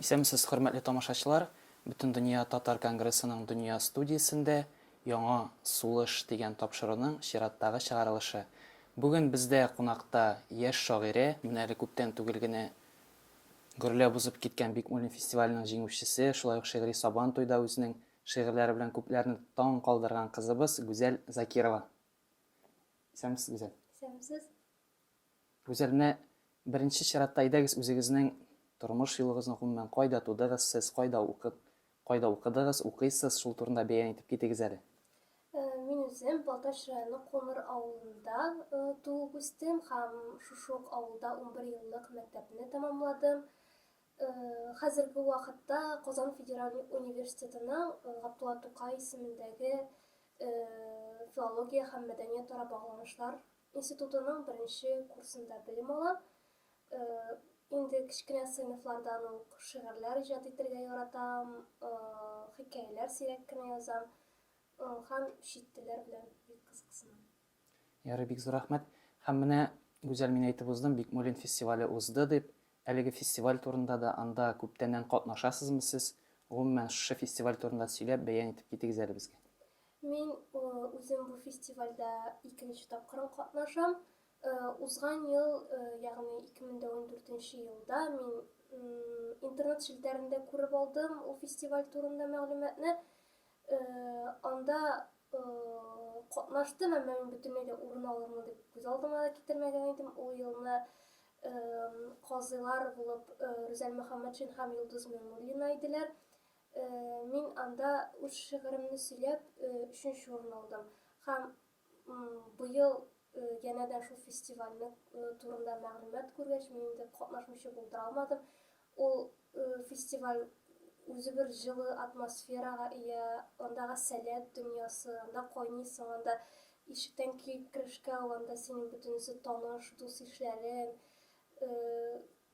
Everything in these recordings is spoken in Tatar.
Исәнмесез, хөрмәтле тамашачылар! Бөтендөнья татар конгрессының дөнья студиясендә Яңа сулыш дигән тапшыруның чираттагы чыгарылышы. Бүген бездә кунакта яшь шагыйрә, менә әле күптән түгел генә Гөрләп узып киткән Бикмуллин фестиваленең җиңүчесе, шулай ук шигъри Сабан туйда үзенең шигырьләре белән күпләрне таң калдырган кызыбыз Гүзәл Закирова. Исәнмесез, Гүзәл. Исәнмесез. Гүзәл, менә беренче чиратта әйдәгез үзегезнең тормыш юлыгызны, гомумән, кайда тудыгыз сез, кайда укып, Кайда укыдыгыз, укыйсыз, шул турында бәян итеп китегез әле. Мин үзем Балтач районы Кумыр авылында туып үстем һәм шушы ук авылда унбер еллык мәктәпне тәмамладым. Хәзерге вакытта Казан федераль университетының Габдулла Тукай исемендәге филология һәм мәдәниятара багланышлар институтының беренче курсында белем алам. Инде кечкенә сыйныфлардан ук шигырьләр иҗат итергә яратам, хикәяләр сирәк кенә язам һәм чит телләр белән бик кызыксынам. Ярый, бик зур рәхмәт. Һәм менә, Гүзәл, мин әйтеп уздым, Бикмуллин фестивале узды дип. Әлеге фестиваль турында да, анда күптәннән катнашасызмы сез? Гомумән, шушы фестиваль турында сөйләп, бәян итеп китегез әле безгә. Мин үзем бу фестивальдә икенче тапкырым катнашам. Узган ел, ягъни 2014 нче елда мин интернет челтәрендә күреп алдым ул фестиваль турында мәгълүматны. Анда катнаштым, әмма мин бөтенләй дә урын алырмын дип күз алдыма да китермәгән идем. Ул елны казыйлар булып Рүзәл Мөхәммәтшин һәм Йолдыз Миңнуллина иделәр. Мин анда үз шигыремне сөйләп, өченче урын алдым. Һәм Быел янә дә шул фестивальне турында мәгълүмат күргәч, мин инде катнашучы булдыра алмадым. Ул фестиваль үзе бер җылы атмосферага ия, андагы сәләт дөньясы, анда кайныйсың, анда ишектән килеп керешкә ул анда синең бөтенесе таныш, дус-ишләрең,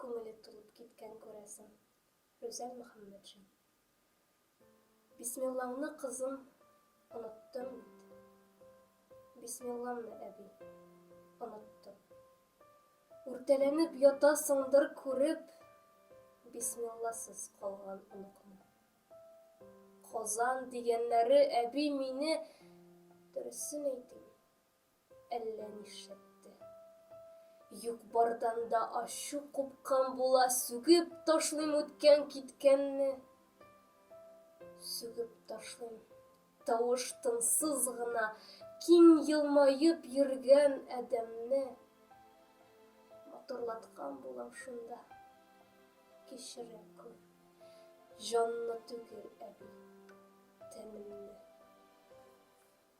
Күңеле тулып киткән, күрәсең. Рүзәл Мөхәммәтшин. Бисмиллаңны, кызым, оныттым бит. Бисмилламны, әби, оныттым. Үртәләнеп ятасыңдыр күреп, Бисмилласыз калган оныкны. Казан дигәннәре, әби, мине, дөресен әйтим, Әллә нишләтте. Юк-бардан да ачу купкан була, сүгеп ташлыйм үткән-киткәнне. Сүгеп ташлыйм. Тавыш тынсыз гына, киң елмаеп йөргән адәмне. Матурлаткан булам шунда. Кичерә күр. Җанны түгел, әби, тәнемне.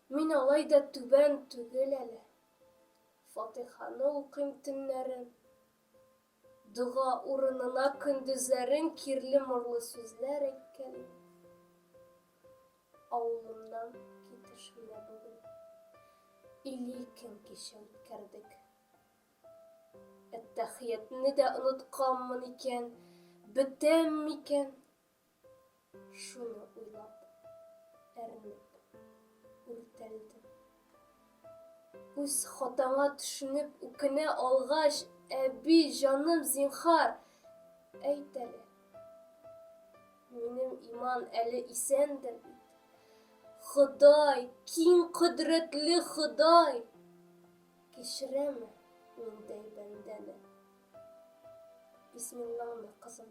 Мин алай да түбән түгел әле. Фатиханы укыйм төннәрен. Дога урынына көндезләрен кирле-морлы сүзләр әйткәлим. Авылымнан китеш менә бүген. Илле икем кичә үткәрдек. Әттәхиятне дә онытканмын икән, бетәм микән? Шуны уйлап, әрнеп, үртәлдем. Үз хатаңа төшенеп, үкенә алгач, Әби, җаным, зинхар, әйт әле. Минем иман әле исәндер бит. Ходай, киң кодрәтле Ходай, кичерәме миндәй бәндәне? Бисмиллаңны, кызым,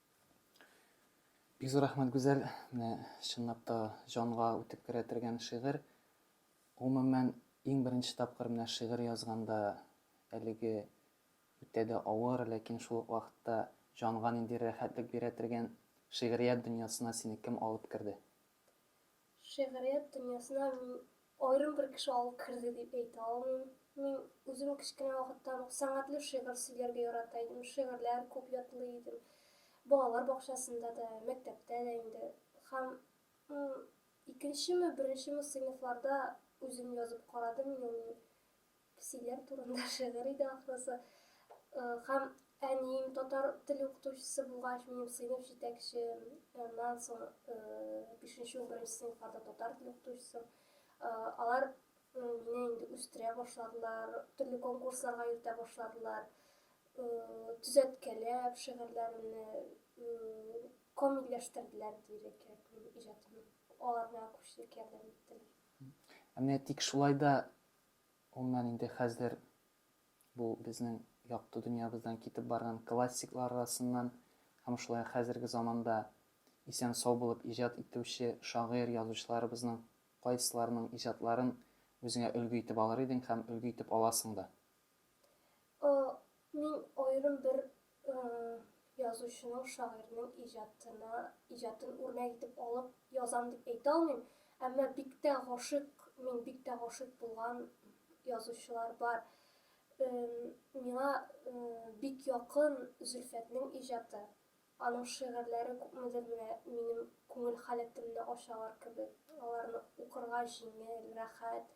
Бик зур рәхмәт, Гүзәл. Менә чынлап та җанга үтеп керә торган шигырь. Гомумән, иң беренче тапкыр менә шигырь язганда әлеге үтә дә авыр, ләкин шул ук вакытта җанга нинди рәхәтлек бирә торган шигърият дөньясына сине кем алып керде? Шигърият дөньясына мин аерым бер кеше алып керде дип әйтә алмыйм. Мин үзем кечкенә вакыттан ук сәнгатьле шигырь сөйләргә ярата идем, шигырьләр күп ятлый идем. Балалар бакчасында да, мәктәптә дә инде. Һәм икенчеме, беренчеме сыйныфларда үзем язып карадым инде мин Песиләр турында шигырь иде ахрысы. Һәм әнием татар теле укытучысы булгач, минем сыйныф җитәкчемнән соң 5-11 сыйныфларда татар теле укытучысы. Алар мине инде үстерә башладылар, төрле конкурсларга йөртә башладылар. Төзәткәләп шигырьләремне камилләштерделәр дияргә кирәк, минем иҗатымны алар миңа күпчелек ярдәм иттеләр. Әнә тик шулай да Уннан инде хәзер бу безнең якты дөньябыздан китеп барган классиклар арасыннан һәм шулай ук хәзерге заманда исән-сау булып иҗат итүче шагыйрь-язучыларыбызның кайсыларының иҗатларын үзеңә өлге итеп алыр идең һәм өлге итеп аласың да? Э, мин аерым бер э, язучының, шагыйрьнең иҗатына, иҗатын үрнәк итеп алып язам дип әйтә алмыйм. Әмма бик тә гашыйк, мин бик тә гашыйк булган язучылар бар. Э, миңа э, бик якын Зөлфәтнең иҗаты. Аның шигырьләре күпмедер менә минем күңел халәтемне ачалар кебек. Аларны укырга җиңел, рәхәт.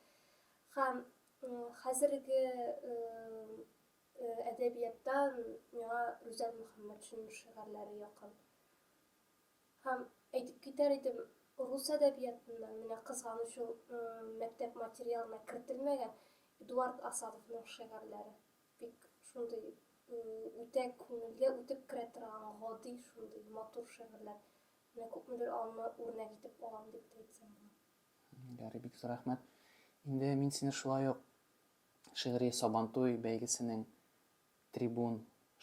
Һәм Хәзерге әдәбияттан миңа Рүзәл Мөхәммәтшинның шигырьләре якын. Һәм әйтеп китәр идем, рус әдәбиятында менә кызганыч ул мәктәп материалына кертелмәгән Эдуард Асадовның шигырьләре. Бик шундый үтә күңелгә үтеп керә торган гади шундый матур шигырьләр. Менә күпмедер алны үрнәк итеп алам дип әйтсәм була. Ярый, бик зур рәхмәт. Инде мин сине шулай ук шигъри Сабантуй бәйгесенең трибун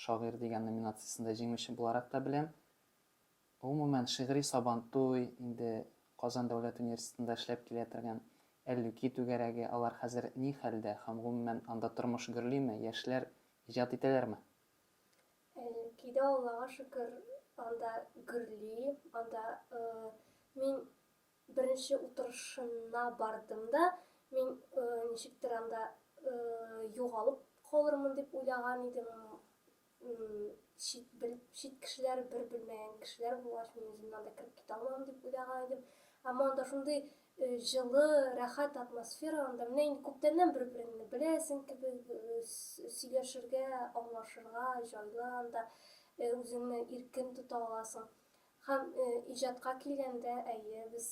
шагыйрь дигән номинациясендә җиңүче буларак та беләм. Гомумән, шигъри Сабантуй инде Казан дәүләт университетында эшләп килә торган Әллүки түгәрәге, алар хәзер ни хәлдә һәм гомумән анда тормыш гөрлиме, яшьләр иҗат итәләрме? Әллүки дә, Аллага шөкер, анда гөрли, анда мин Беренче утырышына бардым да, мин ничектер анда югалып калырмын дип уйлаган идем. Чит, бел, чит кешеләр, бер белмәгән кешеләр булгач, мин үземне анда кереп китә алмам дип уйлаган идем. Әмма анда шундый җылы, рәхәт атмосфера анда. Менә инде күптәннән бер-береңне беләсең кебек, сөйләшергә, аңлашырга җайлы анда, үзеңне иркен тота аласың. Һәм иҗатка килгәндә, әйе, без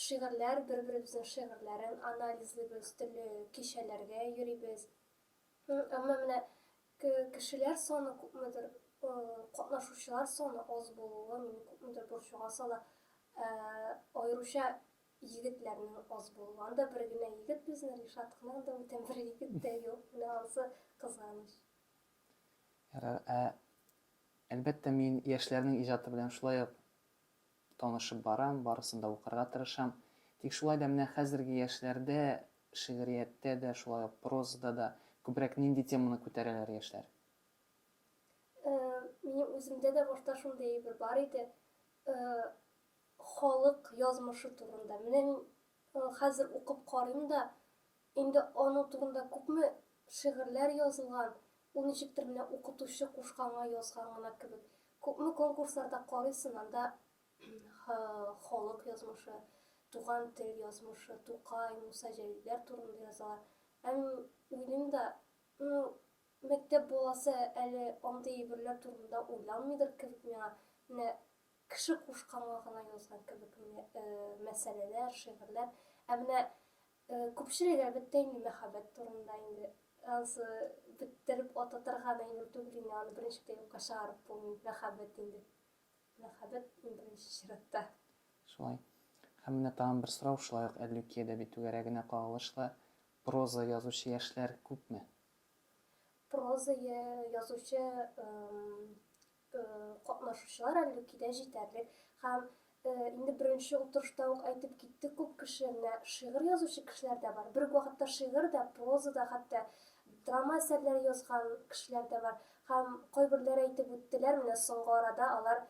шигырьләр, бер-беребезнең шигырьләрен анализлыйбыз, төрле кичәләргә йөрибез. Әмма менә кешеләр саны күпмедер, катнашучылар саны аз булуы мине күпмедер борчуга сала. Аеруча егетләрнең аз булуы. Анда бер генә егет безнең, Ришат кына, анда бүтән бер егет тә юк. Менә анысы кызганыч. Ярар, ә, әлбәттә, мин яшьләрнең иҗаты белән шулай ук танышып барам, барысын да укырга тырышам. Тик шулай да менә хәзерге яшьләрдә шигърияттә дә, шулай ук прозада да күбрәк нинди теманы күтәрәләр яшьләр? Э, минем үземдә дә башта шундый әйбер бар иде, э, халык язмышы турында. Менә мин, э, хәзер укып карыйм да, Инде аның турында күпме шигырьләр язылган, ул ничектер менә укытучы кушканга язган гына кебек. Күпме конкурсларда карыйсын, анда халык язмышы, туган тел язмышы, Тукай, Муса Җәлилләр турында язалар. Һәм уйлыйм да, ну, мәктәп баласы әле андый әйберләр турында уйланмыйдыр кебек миңа. Менә кеше кушканга гына язган кебек менә мәсьәләләр, шигырьләр. Ә менә Күпчелек әлбәттә инде мәхәббәт турында инде. Ансы беттереп ататырга мәймүр түгел инде, аны беренче дә юкка чыгарып булмый, мәхәббәт инде. Мәхәббәт иң беренче чиратта. Шулай. Һәм менә тагын бер сорау, шулай ук Әллүки әдәби түгәрәгенә кагылышлы, проза язучы яшьләр күпме? Проза язучы Катнашучылар Әллүкидә җитәрлек һәм инде беренче утырышта ук әйтеп китте күп кеше, менә шигырь язучы кешеләр дә бар, бер үк вакытта шигырь дә, проза да, хәтта драма әсәрләре язган кешеләр дә бар. Һәм кайберләр әйтеп үттеләр, менә соңгы арада алар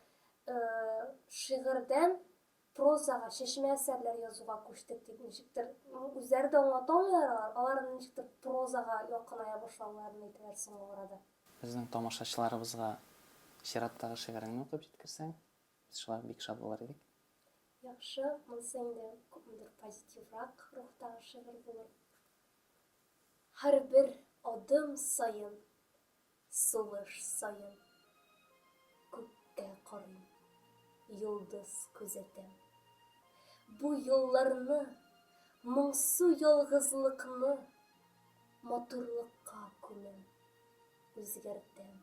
шигырьдән прозага, чәчмә әсәрләр язуга күчтек дип ничектер, үзләре дә аңлата алмыйлар алар, алар ничектер прозага якыная башлауларын әйтәләр соңгы арада. Безнең тамашачыларыбызга чираттагы шигыреңне укып җиткерсәң, без шуңа бик шат булыр идек. Яхшы, монысы инде күпмедер позитиврак рухтагы шигырь булыр. Һәрбер адым саен. Сулыш саен күктә карыйм, йолдыз күзәтәм. Бу юлларны, моңсу ялгызлыкны матурлыкка күмәм, үзгәртәм.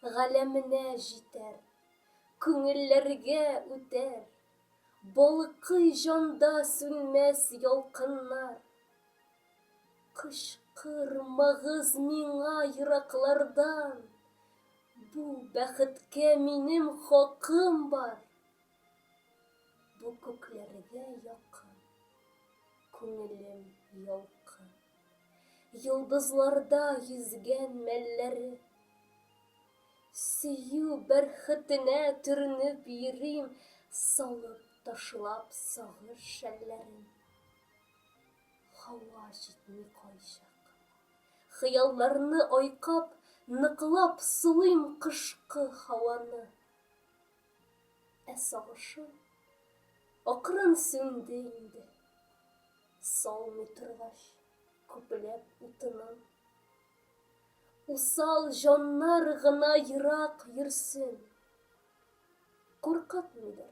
Галәменә җитәр, күңелләргә үтәр, балкый җанда сүнмәс ялкыннар. Кычкырмагыз миңа ераклардан, Бу бәхеткә минем хакым бар. Бу күкләргә якын, Күңелем ялкын. Йолдызларда йөзгән мәлләре. Сөю бәрхетенә төренеп йөрим, Салып-ташлап сагыш шәлләрен. Һава җитми кайчак кына. Хыялларны айкап, ныклап сулыйм кышкы һаваны. Ә сагышым акрын сүнде инде. Салмый торгач, күпләп утынын. Усал җаннар гына ерак йөрсен. Куркытмыйдыр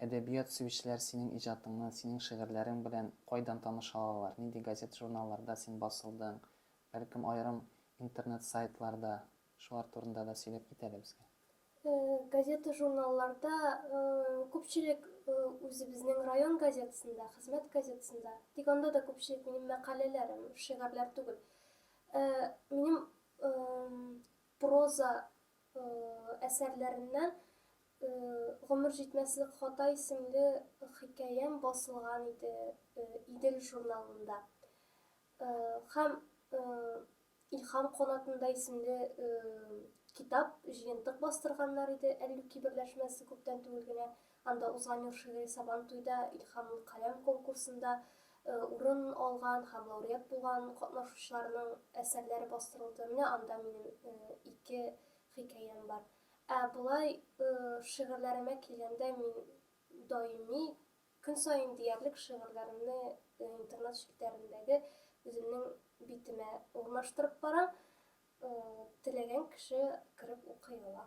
Әдәбият сөючеләр синең иҗатыңны, синең шигырьләрең белән кайдан таныша алалар? Нинди газет-журналларда син басылдың? Бәлкем, аерым интернет-сайтларда? Шулар турында да сөйләп кит әле безгә. Газета-журналларда, күпчелек үзебезнең район газетасында, хезмәт газетасында. Тик анда да күпчелек минем мәкаләләрем, шигырьләр түгел. Минем проза әсәрләреннән Гомер җитмәслек хата исемле хикәям басылган иде Идел журналында. Һәм Илһам канатында исемле китап, җыентык бастырганнар иде Әллүки берләшмәсе күптән түгел генә. Анда узган ел шигъри Сабантуйда Илһамлы каләм конкурсында урын алган һәм лауреат булган катнашучыларның әсәрләре бастырылды. Менә анда минем ике хикәям бар. Ә болай шигырьләремә килгәндә, мин даими, көн саен диярлек шигырьләремне интернет челтәрендәге үземнең битемә урнаштырып барам. Теләгән кеше кереп укый ала.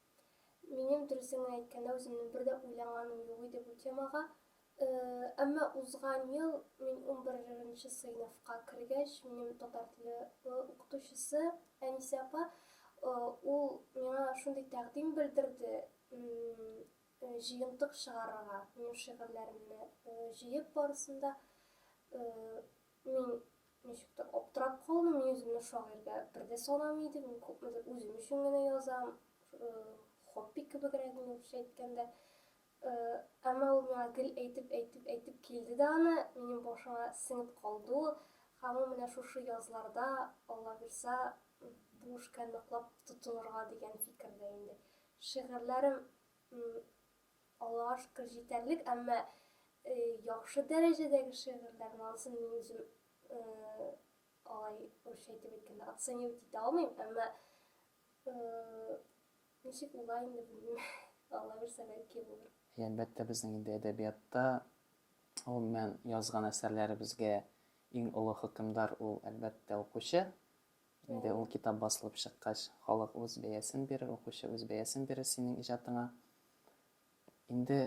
Минем дөресен генә әйткәндә, үземнең бер дә уйлаганым юк иде бу темага. Әмма узган ел мин унберенче сыйныфка кергәч, минем татар теле укытучысы Әнисә апа, ул миңа шундый тәкъдим белдерде, җыентык чыгарырга, минем шигырьләремне җыеп барысын да Мин ничектер аптырап калдым, мин үземне шагыйрьгә бер дә санамый идем, мин күпмедер үзем өчен генә язам, хобби кебегрәк инде русча әйткәндә. Әмма ул миңа гел әйтеп, әйтеп, әйтеп килде дә аны, минем башыма сеңеп калды ул. Һәм ул менә шушы язларда, Алла бирса, бу эшкә ныклап тотынырга дигән фикердә инде. Шигырьләрем Алар җитәрлек, әмма яхшы дәрәҗәдәге шигырьләр барысын мин үзем алай русча әйтеп әйткәндә оценивать итә алмыйм, әмма ничек була инде белмим, Алла бирсә бәлки булыр. Әлбәттә, безнең инде әдәбиятта, гомумән, язган әсәрләребезгә иң олы хөкемдар ул, әлбәттә, укучы. Инде ул китап басылып чыккач, халык үз бәясен бирер, укучы үз бәясен бирер синең иҗатыңа. Инде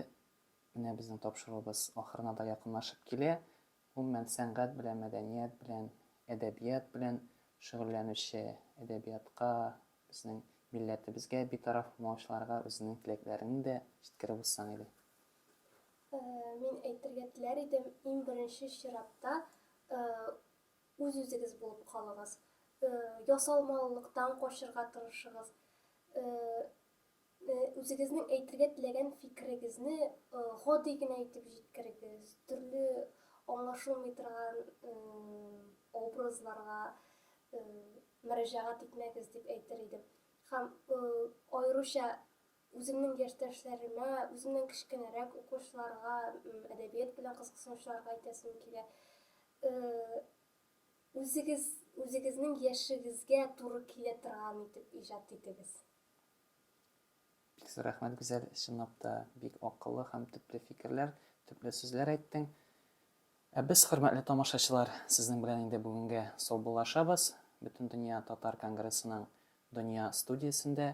менә безнең тапшыруыбыз ахырына да якынлашып килә. Гомумән, сәнгать белән, мәдәният белән, әдәбият белән шөгыльләнүче, әдәбиятка, безнең милләтебезгә битараф булмаучыларга үзеңнең теләкләреңне дә җиткереп узсаң иде. Мин әйтергә теләр идем, иң беренче чиратта, Үз-үзегез булып калыгыз. Ясалмалылыктан качырга тырышыгыз. Үзегезнең әйтергә теләгән фикерегезне гади генә итеп җиткерегез. Төрле аңлашылмый торган образларга мөрәҗәгать итмәгез дип әйтер идем. Һәм аеруча Үземнең яшьтәшләремә, үземнән кечкенәрәк укучыларга әдәбият белән кызыксынучыларга әйтәсем килә, үзегез, үзегезнең яшегезгә туры килә торган итеп иҗат итегез. Бик зур рәхмәт, Гүзәл, чынлап та бик акыллы һәм төпле фикерләр, төпле сүзләр әйттең. Ә без, хөрмәтле тамашачылар, сезнең белән инде бүгенгә саубуллашабыз. Бөтендөнья татар конгрессының Дөнья студиясендә